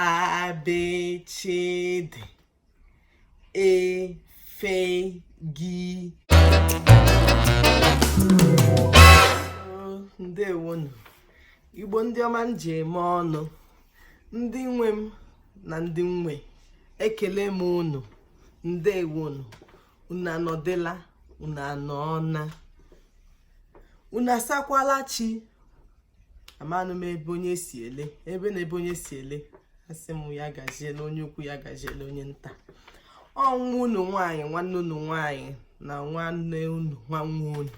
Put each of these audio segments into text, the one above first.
abechede efegi ndewonu igbo ndị ọma m ji eme ọnụ ndị nwe m na ndị nwe ekele m unu ndewonu unu anọdịla unu anọọna unu asakwala chi amanụ m ebe onye si ele ebe na ebe onye si ele asị m ya gaziela onye ukwu ya gaziela onye nta ọ nwa unu nwaanyị nwanne unu nwaanyị na nwanne unu nwanne unu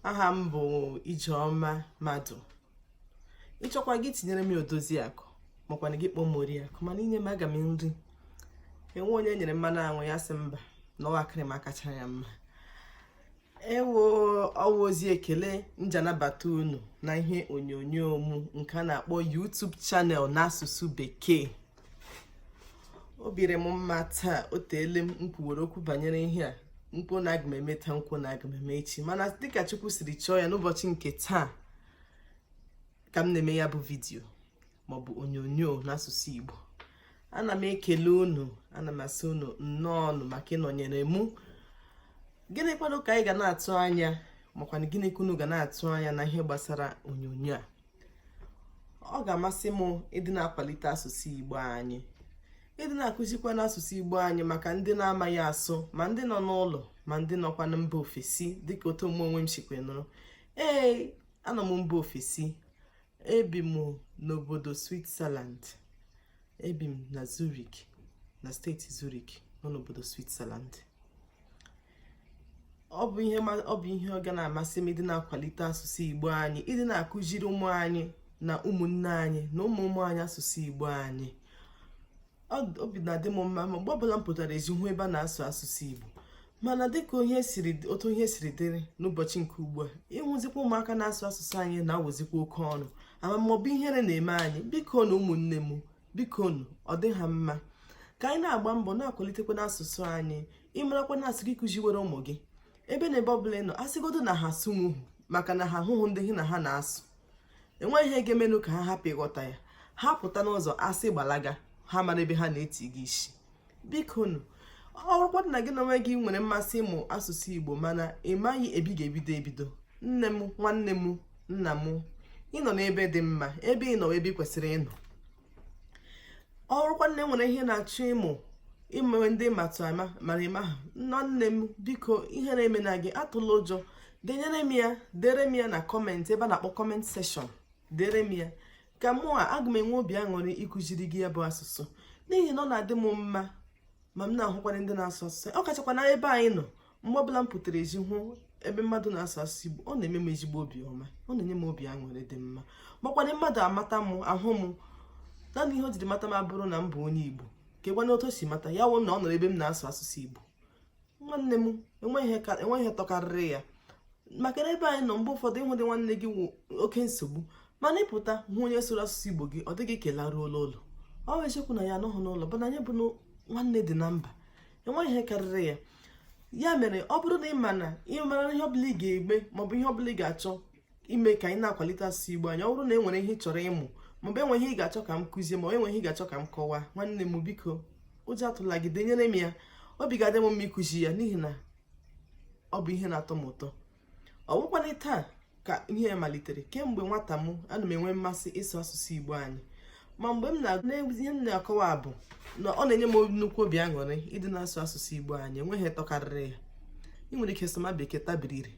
aha m bụ ijeọma madụ ị chọkwa gị tinyere m odozi akụ makwa na gị kpọọ m oriakụ mana i nye m aga m nri enwe onye nyere mmanụ anwụ ya sị mba na ọ wụ akịrị m akacha ya mma ewo ọ wụ ozi ekele m ji anabata unu na ihe onyonyo mụ nke a na-akpọ YouTube channel n'asụsụ bekee obi dị m mma taa o teele m kwuwere okwu banyere ihe a m kwuo na aga m eme taa m kwuo na aga m eme echi mana dịka Chukwu siri chọọ ya n'ụbọchị nke taa ka m na-eme ya bụ vidiyo maọbụ onyonyo n'asụsụ Igbo ana m ekele unu ana m asị unu nnọọ nụ maka ịnọnyere mụ gịnị kwanụ ka anyị ga na-atụ anya makwana gịnị ka unu ga na-atụ anya na ihe gbasara onyonyo a ọ ga-amasị m ịdị na-akwalite asụsụ Igbo anyị ịdị na-akụzikwanụ asụsụ Igbo anyị maka ndị na-amaghị asụ ma ndị nọ n'ụlọ ma ndị nọkwa na mba ofesi dịka otu m onwe m sikwa nọrọ ee anọ m mba ofesi ebi m n'obodo Switzerland ebi m na Zurich na steeti Zurich nọ n'obodo Switzerland ọ bụ ihe ọ ga na-amasị m ịdị na-akwalite asụsụ Igbo anyị ịdị na-akụziri ụmụ anyị na ụmụnne anyị na ụmụ ụmụ anyị asụsụ Igbo anyị obi na-adị m mma mgbe ọbụla m pụtara ezi hụ ebe a na-asụ asụsụ Igbo mana dịka otu ihe siri dịrị n'ụbọchị nke ugbu a ịhụzikwa ụmụaka na-asụ asụsụ anyị na-awụzikwa oke ọnụ ama m maọbụ ihere na-eme anyị biko nụ ụmụnne m biko nụ ọ dị ha mma ka anyị na-agba mbọ na-akwalitekwanụ asụsụ anyị ị marakwa na a sị gị kụziwere ụmụ gị ebe na ebe ọbụla ị nọ a sịgodu na ha asụnwuhu maka na ha ahụhụ ndị gị na ha na-asụ enweghị ihe ga-emenụ ka ha hapụ ịghọta ya ha pụta n'ụzọ a sị gbalaga ha mara ebe ha na-etiga isi biko nụ ọ bụrụkwa na gị na onwe gị nwere mmasị ịmụ asụsụ igbo mana ị maghị ebe ị ga-ebido ebido nne m nwanne m nna m ị nọ n'ebe dị mma ebe ị nọ wụ ebe ị kwesịrị ịnọ ọ bụrụkwa na e nwere ihe ị na-achọ ịmụ ịmụrụ ndị matụ ama mara ịma ha nwanne m biko ihere emena gị atụla ụjọ denyere m ya dere m ya na comment ebe a na-akpọ comment section dere m ya ka m ma aga m enwe obi aṅụrị ịkụziri gị ya bụ asụsụ n'ihi na ọ na-adị m mma ma m na-ahụkwanye ndị na-asụ asụsụ ọ kachakwa na ebe anyị nọ mgbe ọbụla m pụtara ezi hụ ebe mmadụ na-asụ asụsụ Igbo ọ na-eme m ezigbo obi ọma ọ na-enye m obi aṅụrị dị mma makwana mmadụ amata m ahụ m naanị ihe o jiri mata m abụrụ na m bụ onye Igbo kekwanụ otu o si mata ya wụ na ọ nụrụ ebe m na-asụ asụsụ Igbo nwanne m enweghị ihe tọkarịrị ya maka na ebe anyị nọ mgbe ụfọdụ ịhụdị nwanne gị wụ oke nsogbu mana ị pụta hụ onye sụrụ asụsụ Igbo gị ọ dị gị ka ị laruola ụlọ ọ bụ eziokwu na anyị anọghị n'ụlọ bụ na anyị bụ nwanne dị na mba enweghị ihe karịrị ya ya mere ọ bụrụ na ị ma na ị mara ihe ọbụla ị ga-egbe maọbụ ihe ọbụla ị ga-achọ ime ka anyị na-akwalite asụsụ Igbo anyị ọ bụrụ na e nwere ihe ị chọrọ ịmụ maọbụ e nwee ihe ị ga-achọ ka m kụzie maọbụ e nwere ihe ị ga-achọ ka m kọwaa nwanne m biko ụjọ atụla gị denyere m ya obi ga-adị m mma ịkụzi ya n'ihi na ọ bụ ihe na-atọ m ụtọ ọ bụkwanụghị taa ka ihe malitere kemgbe nwata m ana m enwe mmasị ịsụ asụsụ igbo anyị ma mgbe m na-agụ ihe m na-akọwa bụ na ọ na-enye m nnukwu obi aṅụrị ịdị na-asụ asụsụ igbo anyị enweghị ihe tọkarịrị ya ị nwere ike sụma bekee tabiri ire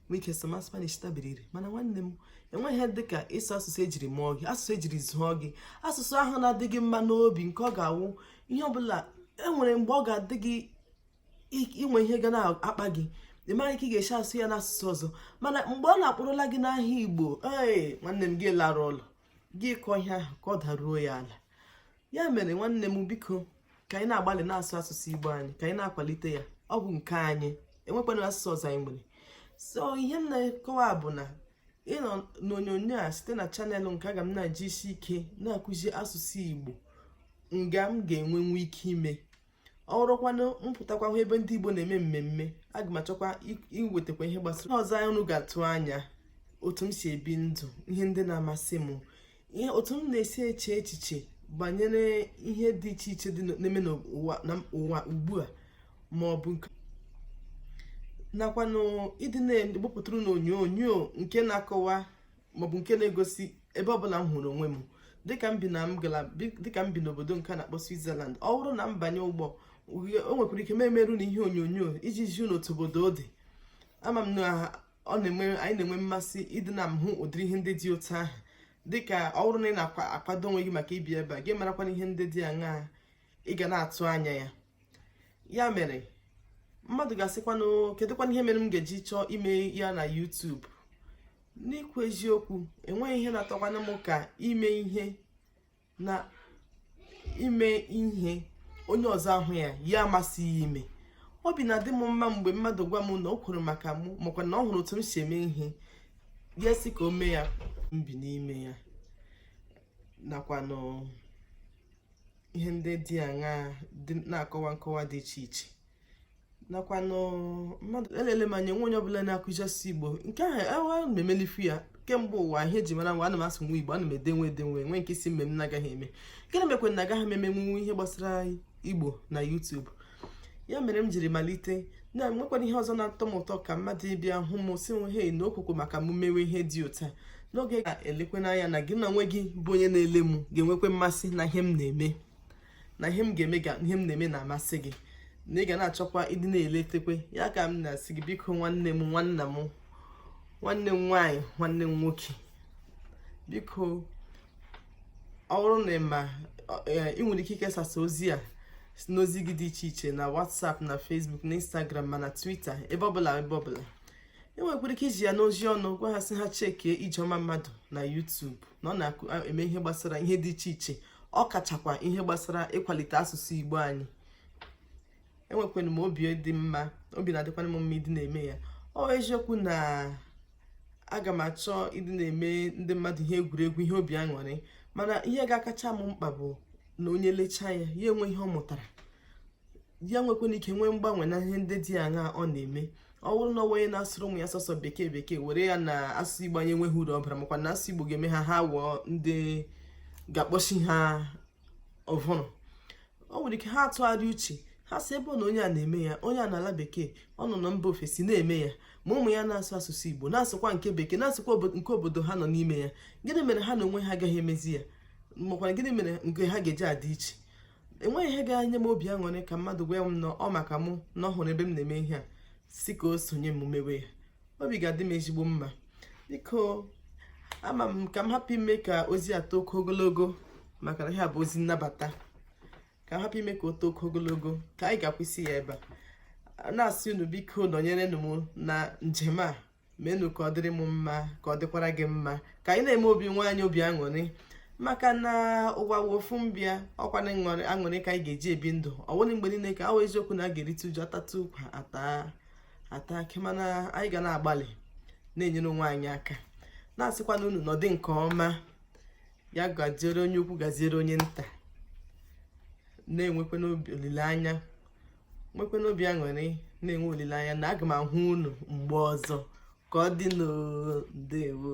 nwee ike sụma spanish tabiri ire mana nwanne m enweghị ihe dị ka ịsụ asụsụ ejiri mụọ gị asụsụ ejiri zụọ gị asụsụ ahụ na-adị gị mma n'obi nke ọ ga-awụ ihe ọbụla enwere mgbe ọ ga-adị gị inwe ihe ga na-akpa gị ị maghị ka ị ga-esi asụ ya n'asụsụ ọzọ mana mgbe ọ na-akpọrọla gị n'aha igbo ee nwanne m gị lara ụlọ gị kọọ ihe ahụ ka ọ daruo ya ala ya mere nwanne m biko ka anyị na-agbalị na-asụ asụsụ igbo anyị ka anyị na-akwalite ya ọ bụ nke anyị enwekwana asụsụ ọzọ anyị nwere so ihe m na-akọwa bụ na ịnọ n'onyonyo a site na channel nke a aga m na-eji isi ike na-akụzi asụsụ igbo nga m ga-enwenwu ike ime ọ bụrụkwanụ m pụtakwa hụ ebe ndị Igbo na-eme mmemme aga m achọkwa iwetakwa ihe gbasara ọzọ anyị unu ga-atụ anya otu m si ebi ndụ ihe ndị na-amasị m ihe otu m na-esi eche echiche banyere ihe dị iche iche dị na-eme n'ụwa ugbu a ma ọ bụ nke nakwanụ ịdị na-egbupụtara unu onyonyo nke na-akọwa maọbụ nke na-egosi ebe ọbụla m hụrụ onwe m dịka m bi na dịka m bi n'obodo nke a na-akpọ Switzerland ọ bụrụ na m banye ụgbọ o nwekwara ike m emere unu ihe onyonyo iji zi unu otu obodo ọ dị ama m na ọ na-enwe anyị na-enwe mmasị ịdị na-ahụ ụdịrị ihe ndị dị otu ahụ dịka ọ bụrụ na ị na-akwado onwe gị maka ibi ebe a gị marakwana ihe ndị dị aṅaa ị ga na-atụ anya ya ya mere mmadụ ga-asịkwanụ kedụkwanụ ihe mere m ga-eji chọọ ime ya na YouTube n'ikwu eziokwu enweghị ihe na-atọkwanụ m ka ime ihe na ime ihe onye ọzọ ahụ ya ya amasị ya ime obi na-adị m mma mgbe mmadụ gwa m na o kwuru maka mụ makwa na ọ hụrụ otu m si eme ihe ya sị ka o mee ya mbi n'ime ya nakwanụ ihe ndị dị aṅaa na-akọwa nkọwa dị iche iche nakwanụ mmadụ elele m anya nwe onye ọbụla na-akụzi asụsụ igbo nke ahụ ewa e, na-emelifu ya kemgbe ụwa ihe e ji mara nwa ana m asụnwu igbo ana m edenwu edenwu nwe nke si mme m na-agaghị eme gịnị mekwa na agaghị m emenwu ihe gbasara igbo na YouTube ya mere m jiri malite na nwekwanụ ihe ọzọ na-atọ m ụtọ ka mmadụ ịbịa hụ m sị hei na ọ wụkwa maka m mewe ihe dị otu a n'oge ga elekwe n'anya na gị na onwe gị bụ onye na-ele m ga-enwekwe mmasị na ihe m na-eme na ihe m ga-eme ga ihe m na-eme na-amasị gị na ị ga na-achọkwa ịdị na-eletekwe ya ka m na-asị gị biko nwanne m nwanna m nwanne m nwaanyị nwanne m nwoke biko ọ bụrụ na ị ma i nwere ike ikesasa ozi a n'ozi gị dị iche iche na WhatsApp na Facebook na Instagram ma na Twitter ebe ọbụla ebe ọbụla i nwekwara ike izi ya n'ozi ọnụ gwa ha sị ha chekie ijeọma madụ na YouTube na ọ na-eme ihe gbasara ihe dị iche iche ọ kachakwa ihe gbasara ịkwalite asụsụ Igbo anyị enwekwara m obi dị mma obi na-adịkwara m mma ịdị na-eme ya ọ wụ eziokwu na aga m achọ ịdị na-eme ndị mmadụ ihe egwuregwu ihe obi aṅụrị mana ihe ga-akacha m mkpa bụ na onye lechaa ya ya enwe ihe ọ mụtara ya nwekwana ike nwee mgbanwe na ihe ndị dị aṅa ọ na-eme ọ bụrụ na ọ wụ onye na-asụrụ ụmụ ya sọsọ bekee bekee were ya na asụsụ igbo anyị enweghị uru ọ bara makwa na asụsụ igbo ga-eme ha ha wụọ ndị ga-akpọchi ha ụbụrụ o nwere ike ha atụgharịa uche ha sị ebe na onye a na-eme ya onye a n'ala bekee ọ nọ na mba ofesi na-eme ya ma ụmụ ya na-asụ asụsụ igbo na-asụkwa nke bekee na-asụkwa nke obodo ha nọ n'ime ya gịnị mere ha na onwe ha agaghị emezi ya makwana gịnị mere nke ha ga-eji adị iche enweghị ihe ga-enye m obi aṅụrị ka mmadụ gwa m na ọ maka mụ na ọ hụrụ ebe m na-eme ihe a sị ka o sonye m mewe ya obi ga-adị m ezigbo mma biko ama m ka m hapụ ime ka ozi a too oke ogologo maka na ihe a bụ ozi nnabata ka m hapụ ime ka o too oke ogologo ka anyị ga-akwụsị ya ebe a na-asị unu biko nọnyerenụ m na njem a meenụ ka ọ dịrị m mma ka ọ dịkwara gị mma ka anyị na-eme obi onwe anyị obi aṅụrị maka na ụwa wụ ofu mbịa ọ kwa n'aṅụrị ka anyị ga-eji ebi ndụ ọ bụghị mgbe niile ka ọ wụ eziokwu na a ga-erite uju atata ụkwa ata akị mana anyị ga na-agbalị na-enyere onwe anyị aka na-asịkwanụ unu nọdị nke ọma ya gaziere onye ukwu gaziere onye nta na-enwekwanụ obi olileanya nwekwanụ obi aṅụrị na-enwe olileanya na aga m ahụ unu mgbe ọzọ ka ọ dịnụ ndewo